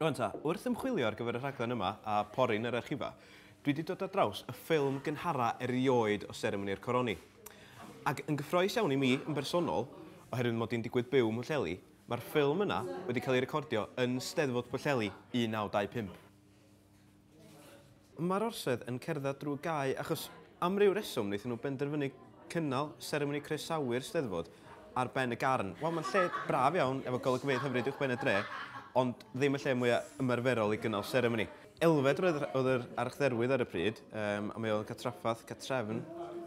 Rwan ta, wrth ymchwilio ar gyfer y rhaglen yma a pori yn yr archifa, dwi wedi dod ar draws y ffilm gynhara erioed o seremoni'r coroni. Ac yn gyffroes iawn i mi yn bersonol, oherwydd mod i'n digwydd byw ym Mhwllheli, mae'r ffilm yna wedi cael ei recordio yn Steddfod Pwllheli 1925. Mae'r orsedd yn cerdded drwy gae achos am ryw reswm wnaethon nhw benderfynu cynnal seremoni croesawu'r Steddfod ar ben y garn. Wel, mae'n lle braf iawn efo golygfeydd hyfryd uwchben y dre, ond ddim y lle mwya' ymarferol i gynnal seremoni. Elfed oedd oedd yr archdderwydd ar y pryd, yym, a mae o'n cael trafferth, cartrefn,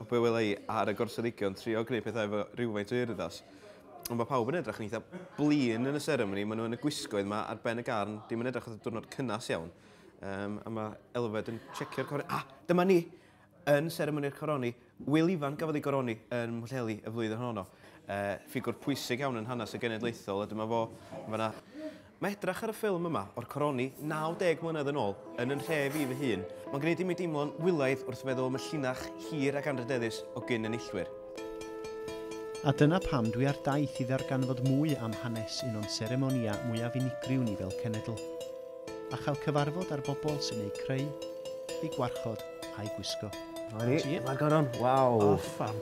o be' wela i, ar y gorsadegion, trio gwneud pethau efo rywfaint o urddas. Ond mae pawb yn edrych yn eitha blin yn y seremoni, maen nhw yn y gwisgoedd yma ar ben y garn, dim yn edrych oedd y diwrnod cynnas iawn. Um, a mae Elfed yn checio'r coroni. Ah, dyma ni! Yn seremoni'r coroni, Wil Ifan gafodd ei goroni yn Mhwllheli y flwyddyn honno. Uh, ffigwr pwysig iawn yn hanes y genedlaethol, a dyma fo, yna. Mae edrych ar y ffilm yma o'r coroni 90 mlynedd yn ôl yn yn nhref i fy hun, mae'n gwneud i mi deimlo'n wylaidd wrth feddwl am y llinach hir ac anrhydeddus o gyn-enillwyr. A dyna pam dwi ar daith i ddarganfod mwy am hanes un o'n seremonïau mwyaf unigryw ni fel cenedl, a chael cyfarfod â'r bobl sy'n eu creu, eu gwarchod a'u gwisgo. Dyma ni, dyma'r goron, waw! O, fam!